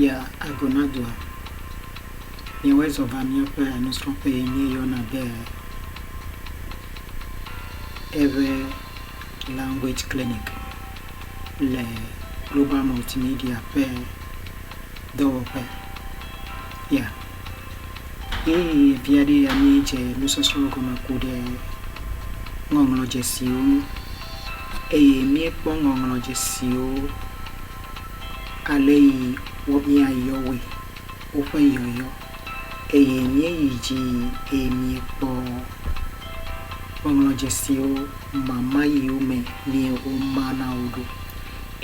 Ya Agonadoa, Míewɔe zɔ va míaƒe nusrɔ̃ƒe yi míeyɔna be Ewe Language Clinic le Global Multimedia ƒe dɔwɔƒe. Ya Ɣeyiɣi vi aɖee ya míedze nusɔsrɔ̃ gɔme ku ɖe ŋɔŋlɔdzesiwo ŋu eye míekpɔ ŋɔŋlɔdzesiwo ale yi wɔ mía yɔwoe, woƒe yɔyɔ, eye míeyi dzi yi eye míekpɔ ŋɔŋlɔdzesiwo mama yiwo me mie woma na wo ɖo,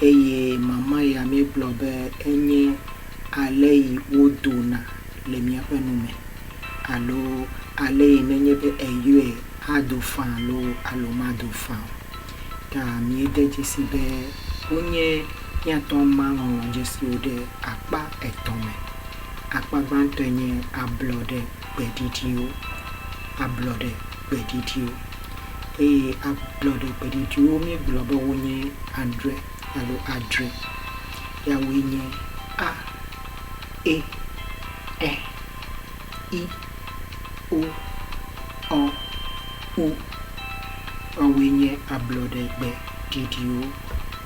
eye mama ya míegblɔ be enye ale yi wodona le míaƒe nu me, alo ale yi nenye be eyɔe ado faa loo alo mado faa o. ta míede dzesi be wonye míatɔ ma ŋlɔ dzesiwo ɖe akpa etɔ̃ me. Akpa gbãtɔe nye ablɔɖe gbe ɖiɖiwo, ablɔɖe gbe ɖiɖiwo, eye ablɔɖe gbe ɖiɖiwo míegblɔ be wonye adre alo adre. Yawoe nye a, e, ɛ. i, o, ɔ, u. Woawoe nye ablɔɖegbe ɖiɖiwo.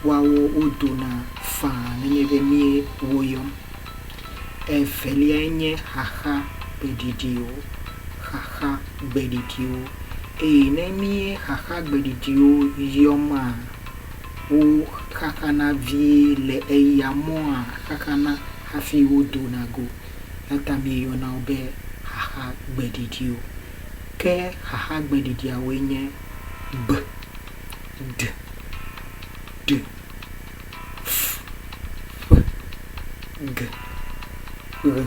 Woawo wodona faa nenye be míe woyɔm. Eveliae nye xaxa gbeɖiɖiwo, xaxa gbeɖiɖiwo. Eye ne míe xaxa gbeɖiɖiwo yɔma, wo xaxana vie le eya mɔa xaxana hafi wodona go. Eya ta míeyɔna wo be xaxa gbeɖiɖiwo. Ke xaxa gbeɖiɖiawoe nye, gbe, de, ɖe, fu, ƒe, ge, ɣe,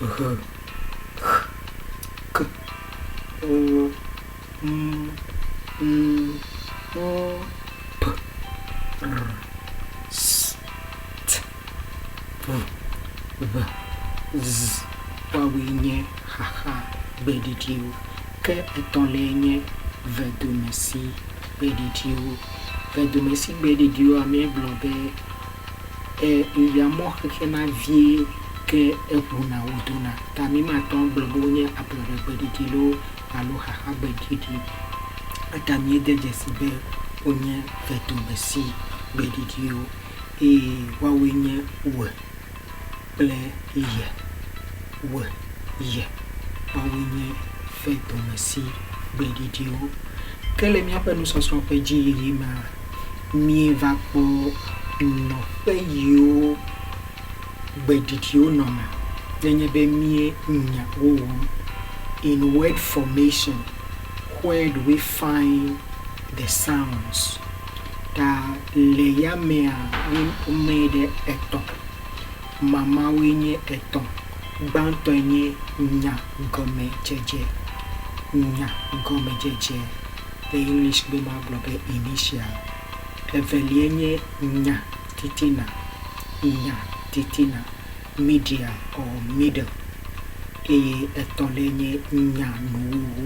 ʋe, xe, ke, ɔ, mu, nu, ɔ, pe, ɔ, s, t. Ʋu, ʋe, ʋz, woawoe nye xaxa gbeɖiɖiwo, ke etɔ̃liae nye vedomesi gbeɖiɖiwo. Vedomesi gbeɖiɖiwoa, míegblɔ be e eʋea mɔ xexlẽna vie ke eŋuna wodona ta mímate ŋu agblɔ be wonye ablɔɖe gbeɖiɖi loo alo xaxa gbeɖiɖi o. Eya ta míede dzesi be wonye vedomesi gbeɖiɖiwo. eye woawoe nye Ue kple Ye. Ue, Ye, woawoe nye fe dɔmesi gbe ɖiɖiwo. Ke le míaƒe nusɔsrɔ̃ ƒe dzi yiyi mea, mieva kpɔ nɔƒe yiwo gbe ɖiɖiwo nɔna nenye be míe nya wo wɔm. In word formation, where do we find the sounds? ta le yamea wome ɖe etɔ̃. Mamãwoe nye etɔ̃. Gbãtɔe nye nyagɔmedzedze, nyagɔmedzedze, ɖe English be magblɔ be initial. Eveliae nye nyatitina, nyatitina, media or middle. Eye etɔ̃liae nye nyanuwuwu,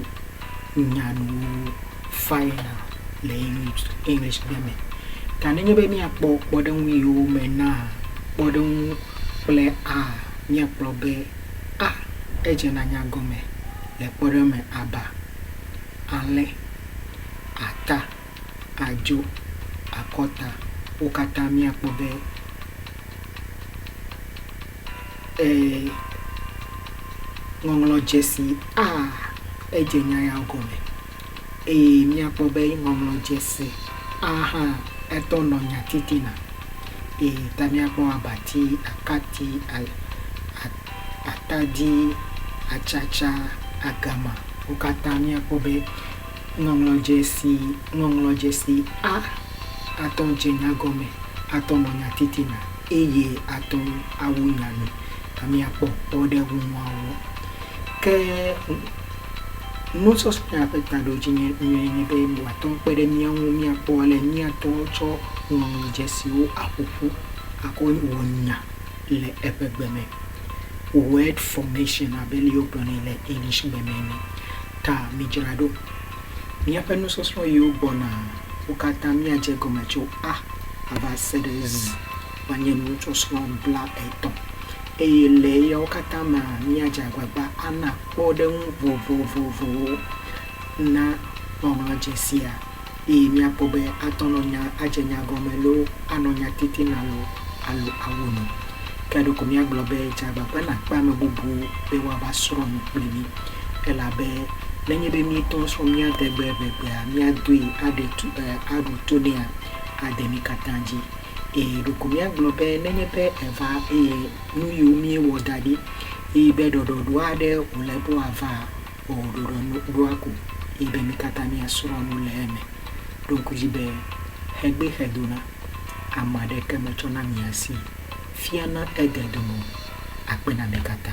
nyanuwuwu. final le Englishgbe me. Ta nenye be míakpɔ kpɔɖeŋu yiwo me naa kpɔɖeŋu kple a, míakpɔ be a edze nanya gɔme le kpɔɖeŋu me aba, alẽ, ata, adzo, akɔta, wo katã míakpɔ be. e Ŋɔŋlɔ Dzesi A, Edze nya ya gɔme. Eye míakpɔ be Ŋɔŋlɔ Dzesi A hã etɔ nɔ nyatitina. Eye ta míakpɔ abati, akati, a, a, atadi, atsatsa, agama, wo katã míakpɔ be. Ŋɔŋlɔdzesi Ŋɔŋlɔdzesi A Atɔ dze nya gɔme, atɔ nɔ nya titina, eye atɔ awu nya me. A Míakpɔ kpɔ ɖe ŋu nuawo. Ke nusɔsrɔ̃a ƒe taɖodzi nye nyuie nye be wòatɔ kpe ɖe mía ŋu míakpɔ ale míatɔ tsɔ ŋɔŋlɔdzesiwo aƒo ƒu akɔ wɔ nya le eƒe gbe me. Word formation abe ale yi wogblɔ nɛ le Englishgbe me ene. Ta midzra ɖo. Míaƒe nusɔsrɔ̃ yiwo gbɔna wo katã míadze egɔme tso a va se ɖe z woanye nusɔsrɔ̃ blaetɔ̃ eye le eyawo katã mea míadze agbagba ana kpɔɖeŋu vovovowo na ŋɔŋlɔdzesia. eye míakpɔ be atɔ nɔ nya, adze nya gɔme loo, anɔ nya titina loo alo awu nu. Ke ɖeko míagblɔ be dze agbagba nàkpe ame bubu be woava srɔ̃ nu kple mí, elabe nenye be míetɔ srɔ̃ mía tɛgbe evegbea, míadoe aɖe to, e, aɖo to nɛa, ade mí katã dzi. Eye ɖeko míagblɔ be nenye be eva eye nuyiwo míewɔ da ɖi, eye be ɖɔɖɔɖo aɖe wòle be wòavaa, O, ɖoɖoa nu ɖoa ko ye be mí katã míasrɔ̃ nu le eme. Ɖo ŋku dzi be xegbee xedona, ame aɖeke metsɔna mia si fiana ede dome o. Akpe na mi katã.